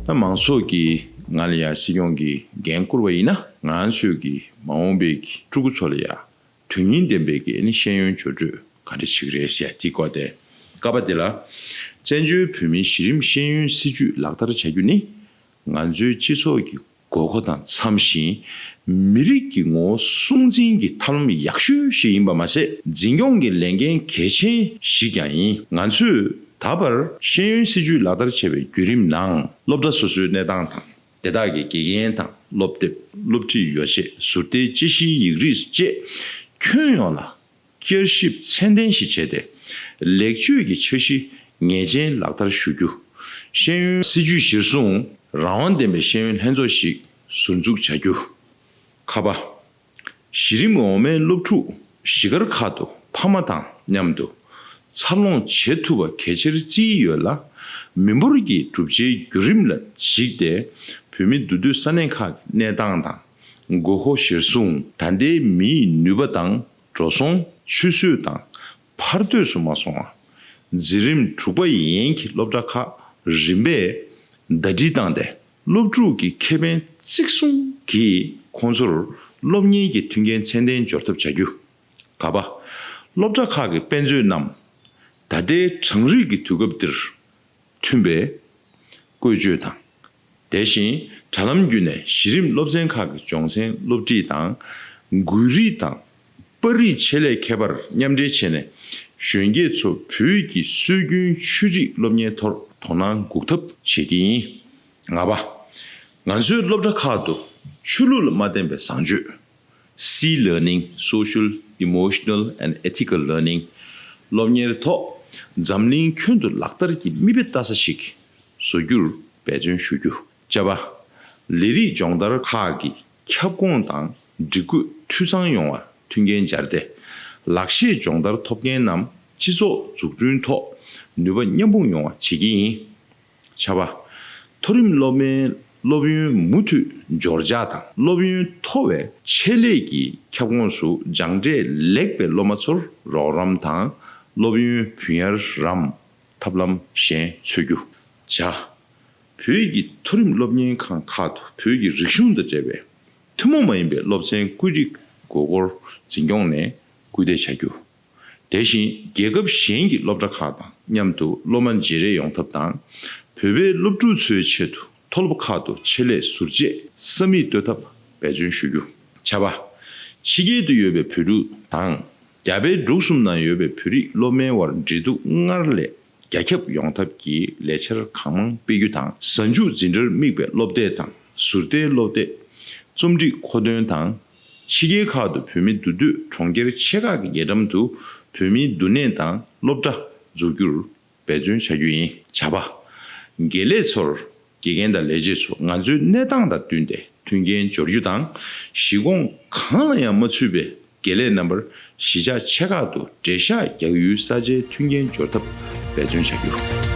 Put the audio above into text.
ད་མང་ཚོགས་ཀྱིས་ང་ལ་ཡང་སྲིད་སྐྱོང་གི་འགན་བསྐུར་བ་ཡིན་ན་ང་ཚོས་ཀྱི་མ་འོངས་པའི་ཕྲུ་གུ་ཚོ་ལ་ཡང་དོན་སྙིང་ལྡན་པའི་གི་ཤེས་ཡོན་སྦྱོར་སྤྲོད་ག་འདྲ་ཞིག་རེད་ཟེར་དེ་སྐོར་དེ་ཀ་པ་དེ་ལ། བཙན་བྱོལ་བོད་མིའི་གཞི་རིམ་ཤེས་ཡོན་སྲིད་བྱུས་ལག་བསྟར་བྱ་རྒྱུ་ནི་ང་ཚོའི་སྤྱི་ཚོགས་ཀྱི། དགོས་མཁོ་དང་འཚམ་ཞིང་མི་རིགས་ཀྱི་ངོ་བོ་སྲུང་འཛིན་གྱི་ཐབས་ལམ་ཡག་ཤོས་ཤིག་ཡིན་པ་མ་ཟད་འཛིན་སྐྱོང་གི་ལས་འགན་གལ་ཆེན་ཞིག་ཀྱང་ཡིན། ང་ཚོས་ད་བར་ཤེས་ཡོན་སྲིད་བྱུས་ལག་བསྟར་བྱས་པའི་བརྒྱུད་རིམ་ནང་སློབ་གྲྭ་སོ་སོའི་གནས་སྟངས་དང་དེ་དག་གི་དགེ་རྒན་དང་སློབ་དེབ་སློབ་ཁྲིད་ཡོ་བྱད་ཟུར་ལྟའི་དཔྱད་གཞིའི་ཡིག་རིགས་བཅས་ཁྱོན་ཡོངས་ལ་བསྐྱར་ཞིབ་ཚད་ལྡན་ཞིག་བྱས་ཏེ། ལེགས་བཅོས་ཀྱི་འཆར་གཞི་ངེས་ཅན་ལག་བསྟར་ཞུ་རྒྱུ། ཤེས་ཡོན། སྲིད་ཇུས་གཞིར་བཟུང་རང་དབང་ལྡན་པའི་ཤེས་ཡོན་ལྷན་ཚོགས་ཤིག་ཟུར་འཛུགས་བྱ་རྒྱུ། ཁ་པ། གཞི་རིམ་གྱི་འོག་མའི་སློབ་ཕྲུག་གཞིས་སྒར་ཁག་ཏུ་ཕ་མ་དང་མཉམ་དུ་འཚར་ལོངས་བྱེད་ཐུབ་པ་གལ་ཆེར་བརྩི་ཡི་ཡོད་ལ། མི་འབོར་གྱི་གྲུབ་ཆའི་བརྒྱུད་རིམ་ལ་གཞིགས་ཏེ་བུད་མེད་འདུ་སྡོད་ས་གནས་ཁག་གི་གནས་སྟངས་དང་དགོས་མཁོ་གཞིར་བཟུང། ད་ལྟའི་མིའི་ནུས་པ་དང་འགྲོ་སོང་ཆུད་ཟོས་དང་བར་དོས་སུ་མ་སོང་བ། འཛིན་རིམ་དྲུག་པ་ཡན་གྱི་སློབ་གྲྭ་ཁག་རིམ་པས་ཟླ་སྒྲིལ་བཏང་སྟེ་སློབ་ཕྲུག་གི་ཁེ་ཕན་གཙིགས་སྲུང་གིས་ཁོང་ཚོར་སློབ་གཉེར་གྱི་མཐུན་རྐྱེན་ཚད་ལྡན་སྦྱོར་ཐབས་བྱ་རྒྱུ། ག་པ། སློབ་གྲྭ་ཁག་གི་དཔེ་མཛོད་རྣམས་ད་ལྟའི་གྲངས་རིག་གི་དུས་སྐབས་འདིར་མཐུན་པའི་བཀོལ་སྤྱོད་དང། དེ་བཞིན་དྲ་ལམ་བརྒྱུད་ནས་གཞི་རིམ་སློབ་ཚན་ཁག་གི་སྦྱོང་ཚན་སློབ་ཁྲིད་དང། འགུལ་རིས་དང་པར་རིས་ཆེད་ལས་མཁས་པར་མཉམ་འབྲེལ་བྱས་ནས་གཞོན་སྐྱེས་ཚོ་བོད་ཀྱི་སྲོལ་རྒྱུན་ཆོས་རིག་སློབ་གཉེར་ཐོག་དོ་སྣང་འགུག་ཐབས་བྱེད་ཀྱི་ཡིན། ལྔ་པ། ང་ཚོའི་སློབ་གྲྭ་ཁག་ཏུ་ཆོས་ལུགས་ལ་མ་བརྟེན་པའི་བཟང་སྤྱོད། སྲིད Learning Social Emotional and Ethical Learning སློབ་གཉེར་ཐོག་འཛམ་གླིང་ཁྱོན་དུ་ལག་བསྟར་གྱི་མིག་དཔེ་ལྟ་ས་ཞིག་བཟོ་རྒྱུར་འབད་བརྩོན་ཞུ་རྒྱུ། བཅའ་བ། ལས་རིགས་སྦྱོང་བརྡར་ཁག་གི་ཁྱབ་ཁོངས་དང་སྒྲིག་བཀོད་འཐུས་ཚང་ཡོང་བར་མཐུན་རྐྱེན་སྦྱར་ཏེ། ལག་ཤེས་སྦྱོང་བརྡར་ཐོབ་མཁན་རྣམས་སྤྱི་ཚོགས་འཛུགས་སྐྲུན་ཐོག་ནུས་པ་མཉམ་སྤུངས་ཡོང་བ་བྱེད་ཀྱི་ཡིན། བྱ་བ། མཐོ་རིམ་སློབ་མའི་སློབ་ཡོན་མུ་མཐུད་འབྱོར་འཇགས་དང་སློབ་ཡོན་མཐོ་བའི་ཆེད་ལས་ཀྱི་ཁྱབ་ཁོངས་སུ་སྦྱངས་འབྲས་ལེགས་པའི་སློབ་མ་ཚོར་རོགས་རམ་དང་སློབ་ཡོན་བུན་གཡར་རམ་ཐབས་ལམ་གཞན་འཚོལ་རྒྱུ། བྱ། བོད་ཀྱི་མཐོ་རིམ་སློབ་གཉེར་ཁང་ཁག་ཏུ་བོད་ཀྱི་རིག་གཞུང་དང་འབྲེལ་བའི་ཐུན་མོང་མ་ཡིན་པའི་སློབ་ཚན་བཀོད་སྒྲིག་དགོས་སྐོར་འཛིན་སྐྱོང་ནས་སྐུལ་འདེད་བྱ་རྒྱུ། དེ་བཞིན་རྒྱལ་ཁབ་གཞན་གྱི་སློབ་གྲྭ་ཁག་དང་མཉམ་དུ་སློབ་མ་བརྗེ་རེས་ཡོང་ཐབས་དང། བོད་པའི་སློབ་ཕྲུག་ཚོའི་ཆེད་དུ་མཐོ་སློབ་ཁག་ཏུ་ཆེད་ལས་ཟུར་བཅད་ས་མིག་གཏོད་ཐབས་འབད་བརྩོན་ཞུ་རྒྱུ། བྱ་བ། ཕྱི་རྒྱལ་དུ་ཡོད་པའི་བོད་ཕྲུག་དང། རྒྱ་བལ་འབྲུག་གསུམ་ནང་ཡོད་པའི་བོད་རིགས་སློབ་མའི་དབར་འབྲེལ་གཏུག་སྔར་ལས་རྒྱ་ཁྱབ་ཡོང་ཐབས་ཀྱི་ལས་འཆར་གང་མང་སྤེལ་རྒྱུ་དང་གཟའ་མཇུག་འཛིན་གྲྭར་དམིགས་པའི་སློབ་དེབ་དང་ཟུར་ལྟའི་སློབ་དེབ། རྩོམ་སྒྲིག་མཁོ་འདོན་དང་ཕྱི་རྒྱལ་ཁག་ཏུ་བོད་མི་འདུག་དུས་གྲོང་ཁྱེར་ཆེ་ཁག་གི་རྒྱལ་འགྲམ་དུ་བོད་མིའི་འདུ་གནས་དང་སློབ་གྲྭ་འཛུགས་རྒྱུར་འབད་བརྩོན་བྱ་རྒྱུ་ཡིན། བྱ་བ། དགེ་ལས་ཚོར་དགེ་རྒན་དང་ལས་བྱེད་ཚོ་ང་ཚོའི་གནས་སྟངས་དང་བསྟུན་ཏེ་མཐུན་རྐྱེན་སྦྱོར་རྒྱུ་དང་གཞི་ཁོངས་གང་ལ་ཡང་མ་ཚུད་པའི་དགེ་ལས་རྣམ་པར་གཞིས་ཆགས་ཆེ་ཁག་ཏུ་བྲེལ་བཤགས་རྒྱག་ཡུལ་ས་ཆའི་མཐུན་རྐྱེན་སྦྱོར་ཐབས་འབད་བརྩོན་བྱ་རྒྱུ།